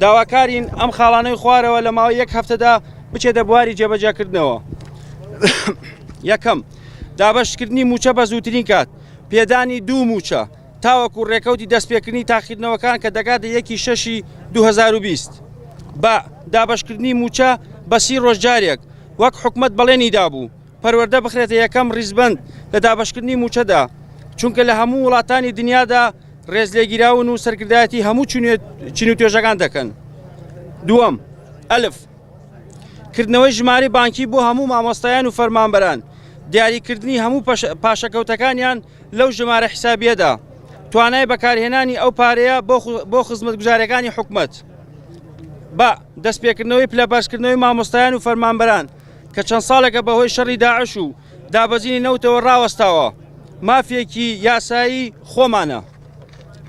داواکارین ئەم خاڵانەی خوارەوە لە ماوەی یەک هەفتەدا بچێتە بواری جێبەجەکردنەوە یەکەم دابشکردنی موچە بە زووترین کات پێدانی دوو موچە تاوەکو ڕێکەوتی دەستپێکردنی تاقیکردنەوەکان کە دەگاتە یەکی شەشی 2020 بە دابشکردنی موچە بەسی ڕۆژجارێک وەک حکومت بەڵێنی دابوو پەروەردە بخرێتە یەکەم ڕیزبەند لە دابەشکردنی مووچەدا، چونکە لە هەموو وڵاتانی دنیادا ڕێزلێگیراون و سەرکردایەتی هەموو چین و توێژەکان دەکەن. دووەم، ئەلف. کردنەوەی ژمارەی بانکی بۆ هەموو مامۆستایان و فەرمانبەران، دیاریکردنی هەموو پاشەکەوتەکانیان لەو ژمارە حیسابییەدا، توانای بەکارهێنانی ئەو پارەیە بۆ خزمەتگوزارییەکانی حکومەت. بە. دەستپێکردنەوەی پلە بەرزکردنەوەی مامۆستایان و فەرمانبەران. کە چەند ساڵێکە بەهۆی شەڕی داعش و دابەزینی نەوتەوە ڕاوەستاوە مافێکی یاسایی خۆمانە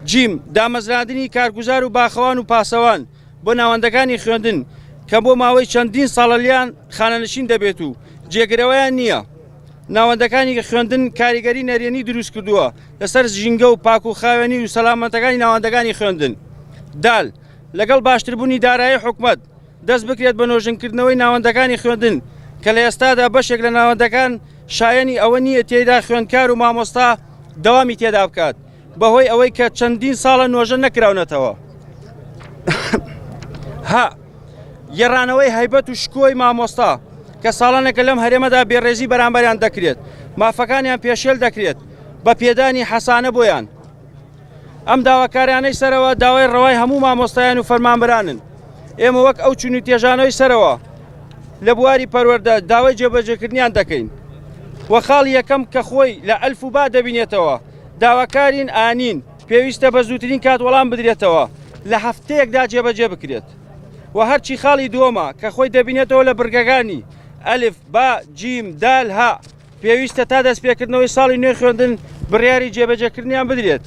جیم دامەزراندنی کارگوزار و باخەوان و پاسەوان بۆ ناوەندەکانی خوێندن کە بۆ ماوەی چەندین ساڵەلیان خانەنشین دەبێت و جێگرەوەیان نییە ناوەندەکانی خوێندن کاریگەری نەرێنی دروست کردووە لەسەر ژینگە و پاک و خاوێنی و سەلامەتەکانی ناوەندەکانی خوێندن دال لەگەڵ باشتربوونی دارایی حکومت دەست بکرێت بە نۆژنکردنەوەی ناوەندەکانی خوێندن کە لە ئێستادا بەشێک لە ناوەندەکان شایەنی ئەوە نییە تێیدا خوێندکار و مامۆستا دەوامی تێدا بکات بەهۆی ئەوەی کە چەندین ساڵە نۆژە نەکراونەتەوە ها گەڕانەوەی هەیبەت و شکۆی مامۆستا کە ساڵانێکە لەم هەرێمەدا بێڕێزی بەرامبەریان دەکرێت مافەکانیان پێشێل دەکرێت بە پێدانی حەسانە بۆیان ئەم داواکاریانەی سەرەوە داوای ڕەوای هەموو مامۆستایان و فەرمانبرانن ئێمە وەک ئەو چون و تێژانەوەی سەرەوە لە بواری پەروەەردە داوای جێبەجێکردنیان دەکەین وە خاڵ یەکەم کە خۆی لە ئەلف و با دەبینێتەوە داواکارین ئانین پێویستە بە زووترین کات وەڵام بدرێتەوە لە هەفتەیەکدا جێبەجێ بکرێت و هەرچی خاڵی دووەمە کە خۆی دەبینێتەوە لە بڕگەکانی ئەلف با جیم دال ها پێویستە تا دەستپێکردنەوەی ساڵی نوێی خوێندن بڕیاری جێبەجێکردنیان بدرێت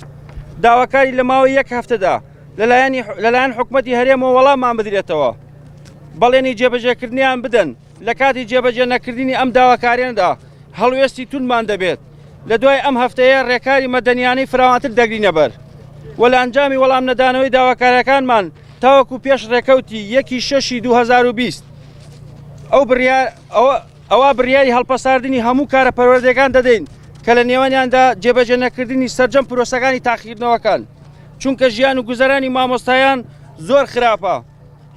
داواکاری لە ماوەی یەک هەفتەدا لەلایەنی لەلایەن حکوومەتتی هەرێمەوە وەڵامان بدرێتەوە بەڵێنی جێبەجێکردنیان بدەن لە کاتی جێبەجێ نەکردنی ئەم داواکاریاندا هەڵوێستی تونمان دەبێت لە دوای ئەم هەفتەیە ڕێکاری مەدەنیانەی فراوانتر دەگرینەبەر وە لە ئەنجامی وەڵام نەدانەوەی داواکارەکانمان تاوەکو پێش ڕێکەوتی یەکی شەشی 2020 ئەو بڕیار ئەوە ئەوا بڕیاری هەڵپەساردنی هەموو کارە پەروەردەیەکان دەدەین کە لە نێوانیاندا جێبەجێ نەکردنی سەرجەم پرۆسەکانی تاقیکردنەوەکان چونکە ژیان و گوزەرانی مامۆستایان زۆر خراپە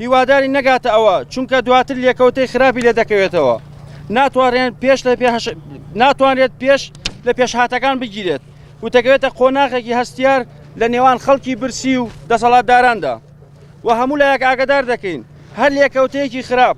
هیواداری نەگاتە ئەوە چونکە دواتر لێکەوتەی خراپی لێ دەکەوێتەوە ناتوانێن پێش لە پێش ناتوانێت پێش لە پێشهاتەکان بگیرێت و دەکەوێتە قۆناغێکی هەستیار لە نێوان خەڵکی برسی و دەسەڵاتداراندا و هەموو لایەک ئاگدار دەکەین هەر لێکەوتەیەکی خراپ